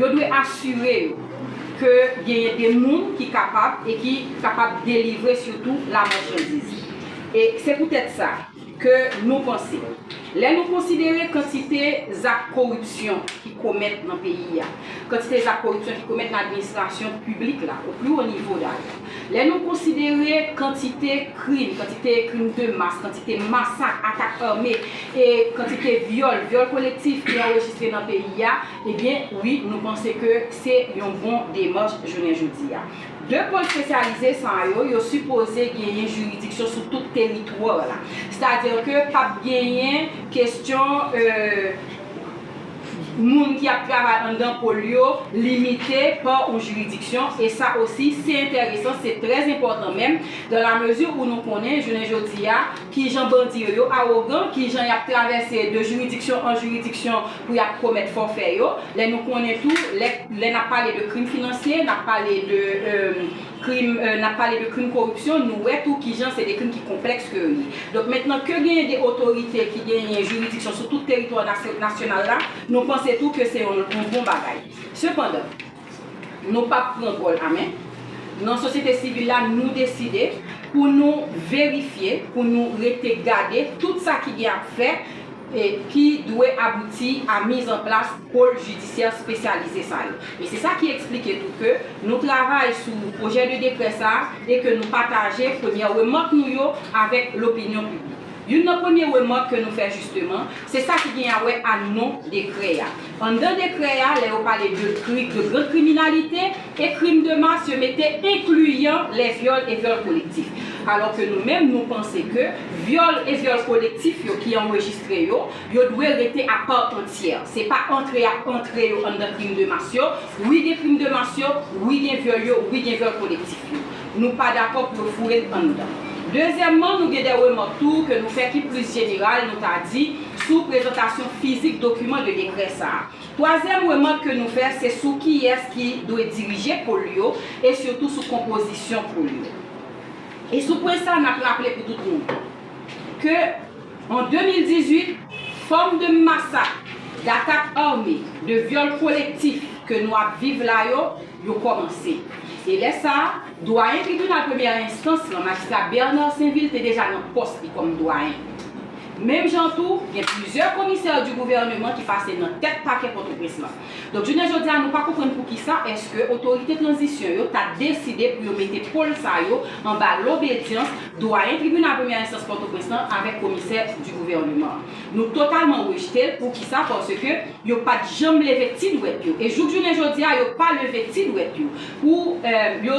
Yo dwe asire yo ke genyen de moun ki kapab e ki kapab delivre sitou la machandiz. E se poutèt sa ke nou panse, lè nou konsidere kantite zak koripsyon ki komèt nan peyi a, kantite zak koripsyon ki komèt nan administrasyon piblik la, o pli wo nivo dayè, Lè nou konsidere kantite krim, kantite krim de mas, kantite masak, atak ame, e kantite vyòl, vyòl kolektif ki anrejistre nan peyi a, ebyen wi nou panse ke se yon bon demach jounen jodi a. De pòl spesyalize sa yo, yo sipoze genyen jiridiksyon sou tout teritwar la. Sètadi ke pap genyen kestyon. moun ki ap travay anndan pol yo limite pa on jiridiksyon e sa osi se entèresan, se trè enpòtan menm, dan la mezi ou nou konnen jounen jodi a ki jan bandi yo yo awogan, ki jan y ap travèse de jiridiksyon an jiridiksyon pou y ap komèt fòfè yo, lè nou konnen tou lè n ap pale de krim finansye, n ap pale de. Krim, n ap pale de krim koripsyon, nou wè tou ki jan se de krim ki konplèks ke yo ye. Donk mentnan ke genyen de otorite ki genyen jiridiksyon sou tout teritwa nasyonal la, nou panse tou ke se yon bon bagay. Sepandan, nou p ap pran gòl a men. Nan sosyete sivil la, nou deside pou nou verifye, pou nou rete gade tout sa ki gen ap fè, ki dwe abouti a miz an plas pôle judiciaire spesyalize sa yo. E se sa ki eksplike tou ke nou travay sou pwojè de dekrè sa a e ke nou pataje premyè remak nou yo avèk lopinyon piblik. Youn nan premye remak ke nou fè jisteman, se sa ki gen a wè a non dekrè a. Anndan dekrè a, lè yo pale de kri de grand kriminalite e krim de mas yo mete enkliyan lè vyòl e vyòl kolektif. Alò ke nou menm nou panse ke vyòl e vyòl kolektif yo ki anrejistre yo, yo dwe rete a part entière. Se pa antre y ap antre yo anndan krim de mas yo. Wi gen krim de mas yo, wi gen vyòl yo, wi gen vyòl kolektif yo. nou pa dakò pou yo foure l anndan. Dezyèmman, nou gen de remòk tou ke nou fè ki plis jeneral, nou ta di, sou prezantasyon fizik dokiman de dekrè sa a. Twazyèm remòk ke nou fè se sou kiyès ki dwe dirije pol yo e sitou sou konpozisyon pol yo. E sou pwen sa a, n ap raple pou tout moun ke an 2018, fòm de masak, datak ame, de vyòl kolektif ke nou ap viv la yo, yo kòmanse. E lè sa a, Dwayen Tribinal Premyè Enstans lan, Majistra Bernard Sainvil te deja nan pòs li kòm Dwayen. Menm jan tou, gen plizyè Commissaires du Gouvernement ki pase nan tèt Pakè Pòtoprens lan. Donk jounen jodi a nou pa konprann poukisa èske otorite tranzisyon yo ta deside pou yo mete pôle sa yo anba lobedyans Dwayen Tribinal Premyè Enstans Pòtoprens lan avèk Commissaire du Gouvernement. Nou totalman rejte l, poukisa, paske. Yo pa t janm leve ti dwèt yo, e jouk jounen jodi a, yo pa leve ti dwèt yo pou yo,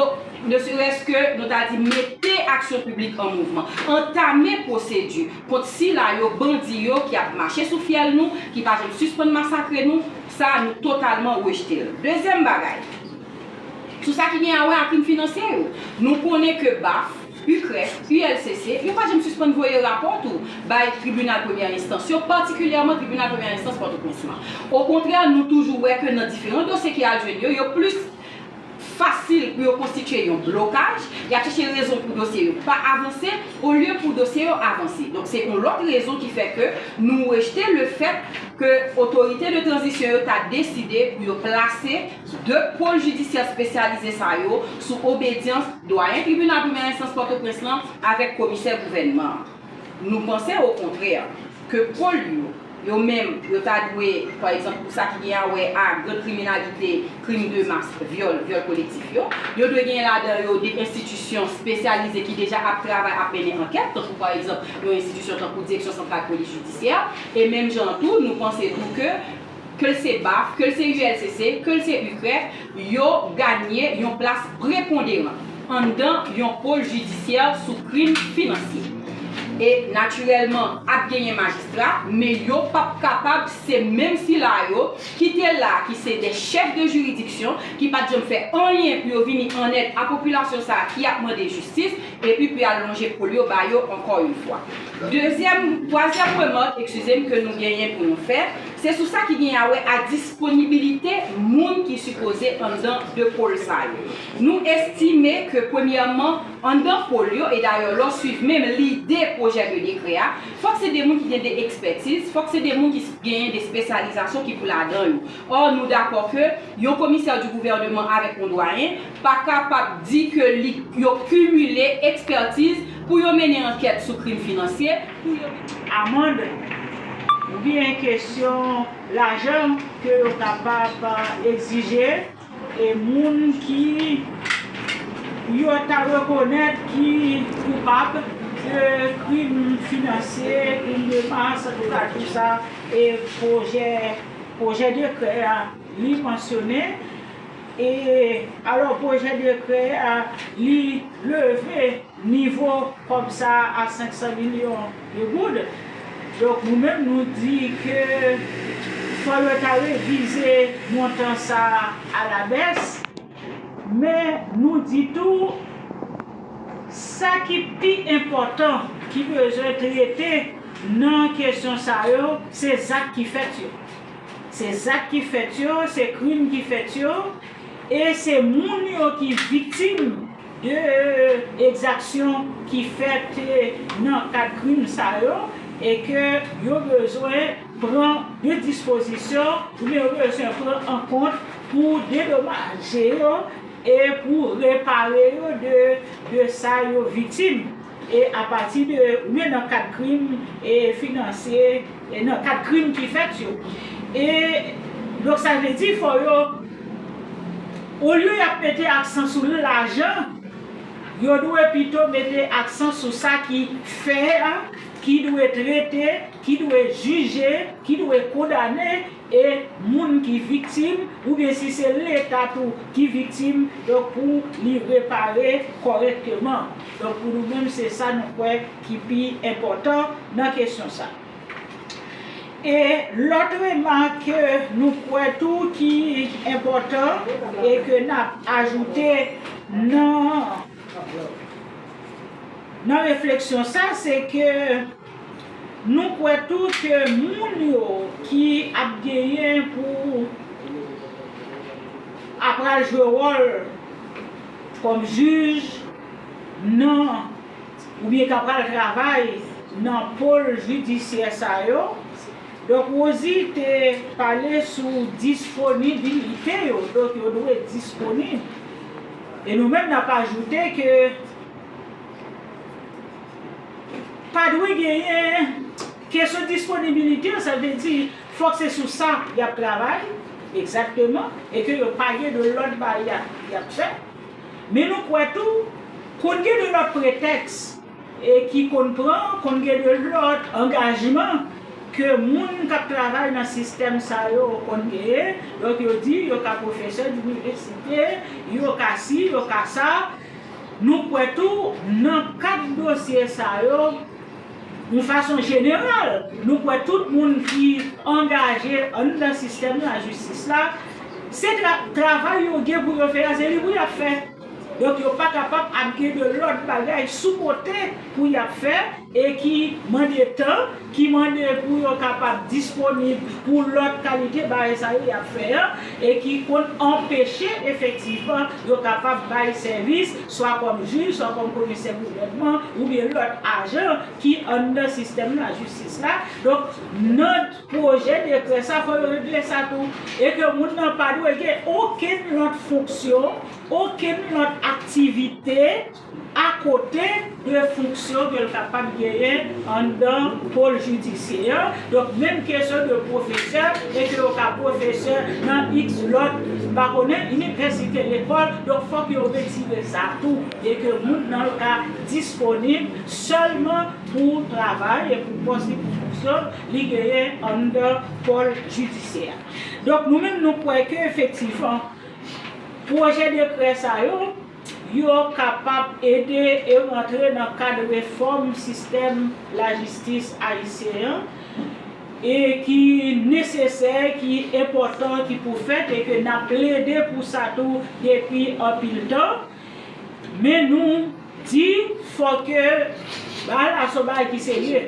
ne serès ke nou ta di mete aksyon piblik an mouvman, antame pwosedi kont sila yo, bandi yo ki ap mache sou fyèl nou, ki pa janm sispann masakre nou, sa a nou totalman rejte l. Dezyèm bagay, sou sa ki gen a wè a krim finansye yo, nou konnen ke baf, UCREF, ULCC, yo pa janm sispann voye rapò tou bay tribinal premyè enstans yo, patikilyèman tribinal premyè enstans Pòtoprens lan. Okontrè, nou toujou wè ke nan diferan dosye ki al jwenn yo, yo plis fasil pou yo konstitye yon blokaj, y ap chèche rezon pou dosye yo pa avanse, olye pou dosye yo avanse. Donk se yon lòt rezon ki fè ke nou rejte lefèt ke otorite de tranzisyon yo ta deside pou yo plase. 2 pôle jidisyè spesyalize sa yo sou obedyans Dwayen Tribinal Premyè Enstans Pòtoprens lan avèk Komisè Gouvènman an. Nou panse okontrè ke pôle yo, yo menm, yo ta dwe, pa egzanp, pou sa ki gen a wè a gran kriminalite, krim de mas, vyòl, vyòl kolektif yo, yo dwe genyen ladan yo de enstitisyon spesyalize ki deja ap travay, ap mennen ankèt, tankou pa egzanp yon enstitisyon tankou Direksyon Santral Polis Jidisyè, e menm jan an tou, nou panse tou ke. ke l se baf, ke l se ULCC, ke l se UCREF, yo ganye yon plas preponderan anndan yon pol jidisyè sou krim finansye. E natirèlman, ap genyen majistra, men yo p ap kapab se menm sila yo ki te la, ki se dè chèf de jiridiksyon, ki pa t janm fè anyen pou yo vini an èd a popilasyon sa a ki ap mande jistis, epi pou y al lonje pol yo ba yo ankò youn fwa. Dezyèm, twazyèm remak, ekskize m, ke nou genyen pou nou fè, se sou sa ki genyen a wè a disponibilite moun ki sipoze anndan 2 pôle sa yo. Nou estime ke premyèman, anndan pôle yo, e dayè lè w swiv menm lide pwojè de dekrè a, fòk se 2 moun ki gen 2 ekspètiz, fòk se 2 moun ki genyen 2 spesyalizasyon ki pou ladan yo. Ò, nou dakò ke yon komisè di gouvèneman avèk yon dwayen, pa kapab di ke li yo kimile ekspètiz pou yo mennen ankèt sou krim finansye, pou yo mennen. Amande, oubyen kesyon lajan ke yo kapab egzije e moun ki yo ta rekonèt ki koupab de krim finansye, krim de mas, antouka tou sa e pwojè, pwojè dekrè a li mansyone. E alò pwojè dekrè a li leve nivo kòb sa a a 500 milyon de goud. Donk nou menm nou di ke fò yo ta revize montan sa a a la bès. Men nou di tou sa ki pi enpòtan ki bezwen trete nan kesyon sa yo se zak ki fèt yo. Se zak ki fèt yo, se krim ki fèt yo, e se moun yo ki viktim de ekzaksyon ki fèt nan kad krim sa yo, e ke yo bezwen pran de dispozisyon oubyen yo bezwen pran an kont pou dedomaje yo e pou repare yo de sa yo viktim. e apati de oubyen nan kad krim e finansye e nan kad krim ki fèt yo e donk sa vle di fò yo olye y ap mete aksan sou lajan yo dwe pito mete aksan sou sa ki fè a ki dwe trete ki dwe jije ki dwe kondane e moun ki viktim oubyen si se leta tou ki viktim donk pou li repare kòrèkteman. Donk pou nou menm se sa nou kwè ki pi enpòtan nan kesyon sa. E lòt remak ke nou kwè tou ki enpòtan e ke n ap ajoute nan nan refleksyon sa se ke. Nou kwè tou ke moun yo ki ap genyen pou apral jwe wòl kòm jij nan oubyen k apral travay nan pol jidisyè sa yo, Dòk Wozi te pale sou disponibilite yo, donk yo dwe disponib. E nou menm n ap ajoute ke. Pa dwe genyen kesyon disponibilite, sa vle di fòk se sou sa y ap travay egzakteman e ke yo pa gen de lòt baryè y ap fè. Men nou kwè tou konn gen de lòt pretèks ki konn pran, konn gen de lòt angajman ke moun k ap travay nan sistèm sa yo konn genyen. Donk yo di yo ka pwofesè inivèsite, yo ka si, yo ka sa. Nou kwè tou, nan kad dosye sa yo, yon fason jeneral, nou kwè tout moun ki angaje anndan sistèm lajistis la, se travay yo gen pou yo fè a, se li pou y ap fè. Donk yo pa kapab ap gen de lòt bagay sou kote pou y ap fè e ki mande tan ki mande pou yo kapab disponib pou lòt kalite bagay sa yo y ap fè an e ki konn anpeche efektivman yo kapab bay sèvis swa kòm jij, swa kòm komisè gouvènman oubyen lòt ajan ki anndan sistèm lajistis la. Donk, nan pwojè dekrè sa, fò yo regle sa tou e ke moun nan pa dwe gen okenn lòt fonksyon, okenn lòt aktivite, akote de fonksyon ke l kapab genyen anndan pol jidisyè an, donk menm kesyon de pwofesè e ke yo ka pwofesè nan iks lòt, m pa konnen, inivèsite, lekòl, donk fòk yo retire sa tou e ke moun nan l ka disponib sèlman pou travay e pou pòs li, pou fonksyon li genyen anndan pòl jidisyè a. Donk nou menm nou kwè ke efektivman pwojè dekrè sa yo, yo kapab ede e rantre nan kad refòm sistèm lajistis ayisyen an e ki nesesè, ki enpòtan, ki pou fèt e ke n ap plede pou sa tou depi anpil tan. Men nou di fò ke bagay la se yon bagay ki serye.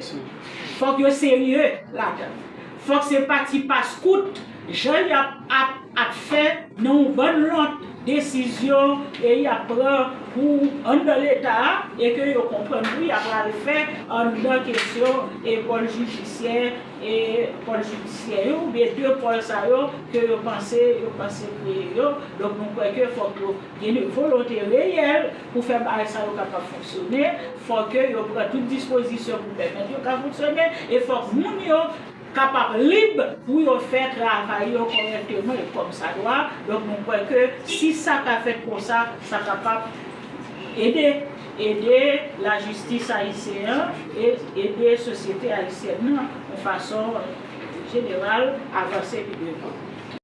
Fò k yo serye ladan l. Fok se pati pas kout jan yap ap ap fè nan yon bann lòt desizyon e yap pran pou anndan leta a e ke yo konprann tou yap pral fè anndan kesyon e pòl jijisyè e pòl jidisyè yo oubyen de pòl sa yo ke yo panse yo panse kreye yo donk nou kwè ke fok yo gen volonte reyèl Pou fè bagay sa yo kapab fonksyone, fò ke yo pran tout dispozisyon pou pèmèt yo ka fonksyone, e fòk moun yo kapab lib pou yo fè travay yo kòrèkteman e kòmsadwa, donk mwen kwè ke si sa ka fèt konsa, sa kapab ede, ede lajistis ayisyen an e ede sosyete ayisyèn nan yon fason jeneral avanse pi devan.